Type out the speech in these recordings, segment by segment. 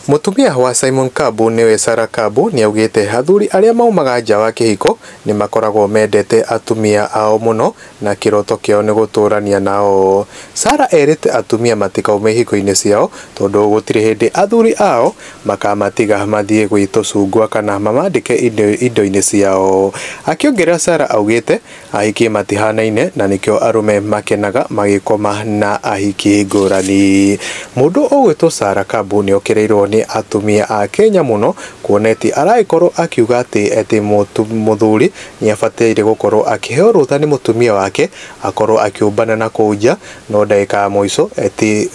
Mũtumia wa Simon Kabu nĩwe Sarah Kabu nĩaugĩte athuri arĩa maumaga nja wa kĩhiko nĩmakoragwo mendete atumia ao mũno na kĩroto kĩao nĩ gũtũrania nao. Sarah erĩte atumia matikaume ihiko-inĩ ciao tondũ gũtirĩ hĩndĩ athuri ao makamatiga mathiĩ gwĩ tũcungwa kana mamandĩke indo-inĩ ciao. Akĩongerera Sarah augĩte Ahiki matihanaine na nĩkĩo arũme makenaga magĩkoma na ahiki ngũrani. Mũndũ ũgwĩtwo Sarah Kabu nĩokereirwo nĩ atumia a Kenya mũno kuona eti aragĩkorwo akiuga atĩ eti mũthuri nĩabataire gũkorwo akĩheo rũtha nĩ mũtumia wake akorwo akĩũmbana na kũu nja no ndagĩka ya mũico eti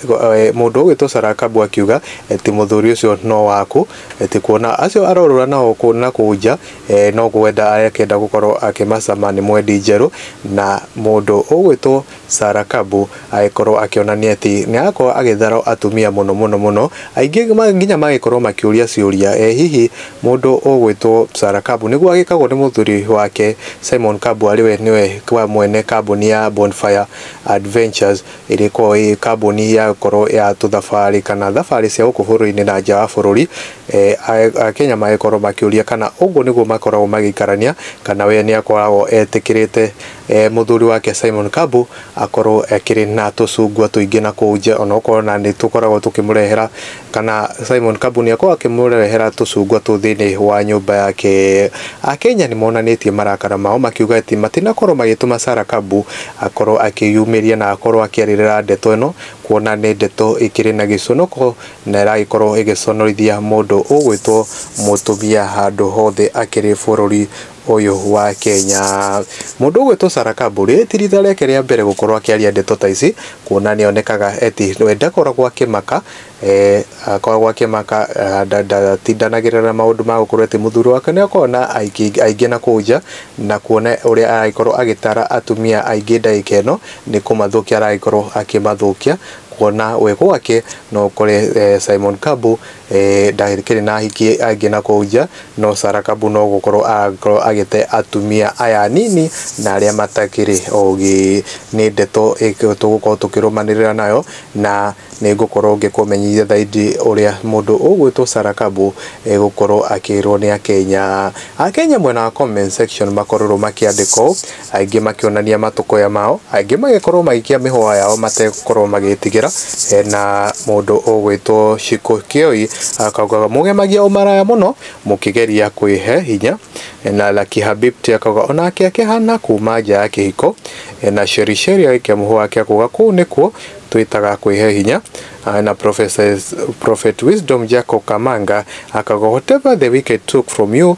mũndũ ũgwĩtwo Sarah Kabu akiuga eti mũthuri ũcio no waku eti kuona acio arorũra nao na kũu nja Ee, no kwenda arakĩenda gũkorwo akĩmacama nĩ mwendi njerũ, na mũndũ ũgwĩtwo Sarah Kabu agĩkorwo akĩonania atĩ nĩ arakorwo agĩthara atumia mũno mũno mũno, aingĩ ma- nginya magĩkorwo makĩũria ciũria, ee hihi mũndũ ũgwĩtwo Sarah Kabu nĩguo agĩkagwo nĩ mũthuri wake Simon Kabu arĩ we nĩwe wa mwene kambuni ya Bonfire Adventures. ĩrĩ korwo ĩ kambuni ya gũkorwo ya tũthabarĩ kana thabarĩ cia gũkũ bũrũri-inĩ na nja wa bũrũri, Akenya magĩkorwo makĩũria kana ũguo nĩguo makoragwo magĩikarania kana we nĩ akoragwo etĩkĩrĩte mũthuri wake Simon Kambu akorwo akĩrĩ na tũcungwa tũingĩ na kũu nja onokorwo nĩ tũkoragwo tũkĩmũrehera Kana Simon Kabunyako akĩmũrehera tũcungwa tũu thĩinĩ wa nyũmba yake. Akenya nĩ monanĩtie marakara mao makiuga atĩ matinakorwo magĩtũma Sarah Kabu akorwo akĩyumĩria na akorwo akĩarĩrĩra ndeto ĩno kuona nĩ ndeto ĩkĩrĩ na gĩconoko na ĩragĩkorwo ĩgĩconorithia mũndũ ũgwĩtwo mũtumia handũ hothe akĩrĩ bũrũri ũyũ wa Kenya. Mũndũ ũgwĩtwo Sarah Kamburi ti rita rĩake rĩa mbere gũkorwo akĩaria ndeto ta ici kuona nĩ onekaga eti we ndakoragwo akĩmaka eh, akoragwo akĩmaka ah, nda- ndatindanagĩrĩra na maũndũ ma gũkorwo eti mũthuri wake nĩ akoragwo na aingĩ aingĩ na kũu nja na kuona ũrĩa aragĩkorwo agĩtara atumia aingĩ ndagĩka ĩno nĩ kũmathũkia aragĩkorwo akĩmathũkia kuona we gwake no ũkore eh, Simon Kambu Eeh ndakĩrĩ na ahiki angĩ na kũu nja, no Sarah Kabu no gũkorwo arakorwo agĩte atumia aya anini na arĩa matakĩrĩ ogĩ. Nĩ ndeto ĩkĩrĩ tũgũkorwo tũkĩrũmanĩrĩra nayo na nĩ ngũkorwo ngĩkũmenyithia thaindi ũrĩa mũndũ ũgwĩtwo Sarah Kabu egũkorwo akĩrwo nĩ Akenya. Akenya mwena wa comment section makororwo makĩandĩka ũũ. Aingĩ makĩonania matũkũya mao, angĩ magĩkorwo magĩikia mĩhũa yao mategũkorwo magĩtigĩra, hena mũndũ ũgwĩtwo Shiko Kioi akaugaga mũgemagia ũmaraya mũno mũkĩgeria kwĩhe hinya, na Lucky Habibti akauga onake akĩhana kuma nja ya kĩhiko, na Sheri Sheri agĩikia mũhũa wake akauga kũu nĩkuo twĩtaga kwĩhe hinya, na Prophet Wisdom Jacob Kamanga akauga whatever the wicked took from you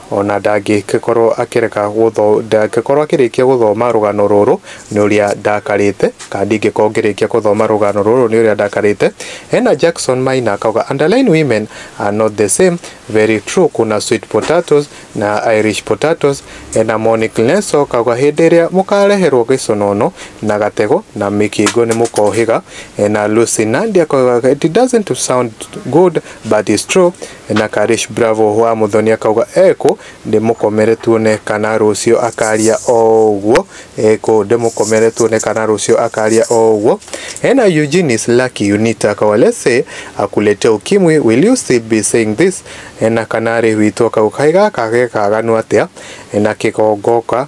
O na ndangĩgĩkorwo akĩreka gũtho, ndangĩkorwo akĩrĩkia gũthoma rũgano rũrũ nĩ ũrĩa ndakarĩte, kana ndingĩkorwo ngĩrĩkia gũthoma rũgano rũrũ nĩ ũrĩa ndakarĩte. Hena Jackson Maina akauga, underline women are not the same, very true, kuna sweet potatoes na Irish potatoes. Hena Monique Nelson akauga, hĩndĩ ĩrĩa mũkareherwo gĩconono na gatego na mĩkingo nĩ mũkohĩga. Hena Lucy Nandi akauga, it doesn't sound good but it's true. na Karish Bravo wa Muthoni akauga ekũ ndĩmũkomere tuone kana rũcio akaria o ũguo ekũ ndĩmũkomere tuone kana rũcio akaria o ũguo ena Eugenius Lucky Unita akauga let's say akuletea ukimwi will you still be saying this na Kanari witũ akauga kaĩ gaka gekaganu atĩa na kĩgongoka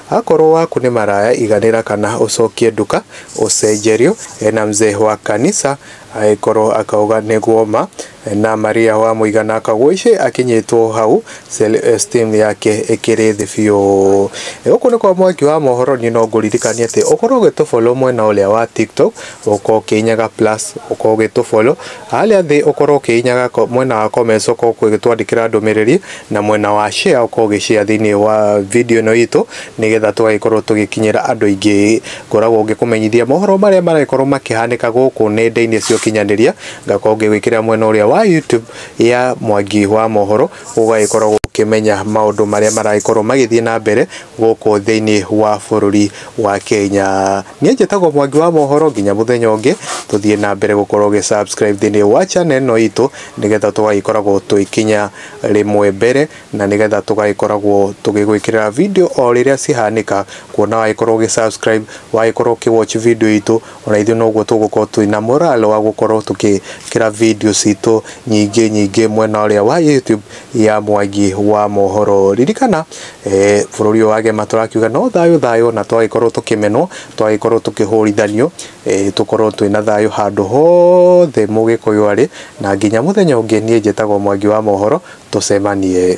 Akorwo waku nĩ maraya iganĩra kana ũcokie nduka ũcenjerio na mzee wa kanisa agĩkorwo akauga nĩguo ma na Maria wa mũigana akagũici akinyĩtwo hau self esteem yake ĩkĩrĩ thĩ biũ. Gũkũ nĩ kwa mwaki wa mohoro niĩ no ngũririkanie atĩ ũkorwo ũgĩtũ follow mwena ũrĩa wa TikTok ũkorwo ũkĩnyaga plus ũkorwo ũgĩtũ follow Harĩa thĩ ũkorwo ũkĩhinyaga mwena wa comments ũkorwo ũgĩtwandĩkĩra ndũmĩrĩri na mwena wa share ũkorwo ũgĩ share thĩinĩ wa video ĩno itũ nĩgetha tũgagĩkorwo tũgĩkinyĩra andũ aingĩ. Ngoragwo ngĩkũmenyithia mohoro marĩa maragĩkorwo makĩhanĩka gũkũ nenda-inĩ cia ũkinyanĩria, ngakorwo ngĩgwĩkĩrĩra mwena ũrĩa wa YouTube ya Mwangi wa Mohoro, ũgagĩkorwo ũkĩmenya maũndũ marĩa maragĩkorwo magĩthiĩ na mbere gũkũ thĩinĩ wa bũrũri wa Kenya. Niĩ njĩtagwo Mwangi wa Mohoro, nginya mũthenya ũngĩ tũthiĩ na mbere gũkorwo ũgĩ subscribe thĩinĩ wa channel ĩno itũ, nĩgetha tũgagĩkoragwo tũgĩkinya rĩmwe mbere, na nĩgetha tũgagĩkoragwo tũgĩgwĩkĩrĩra video o rĩrĩa cihanĩka, kuona wagĩkorwo ũgĩ subscribe, wagĩkorwo ũkĩ watch video itũ, Ona ithuĩ noguo tũgũkorwo twĩ na morale wa gũkorwo tũkĩkĩra video citũ nyingĩ nyingĩ mwena ũrĩa wa YouTube ya Mwangi wa Mohoro. Ririkana eh, bũrũri ũyũ wagema tũrakiuga no thayũ thayũ, na twagĩkorwo tũkĩmenwo, twagĩkorwo tũkĩhũrithanio, eh, tũkorwo twĩ na thayũ handũ hothe mũgĩkũyũ arĩ, na nginya mũthenya ũngĩ niĩ njĩtagwo Mwangi wa Mohoro, tũcemanie.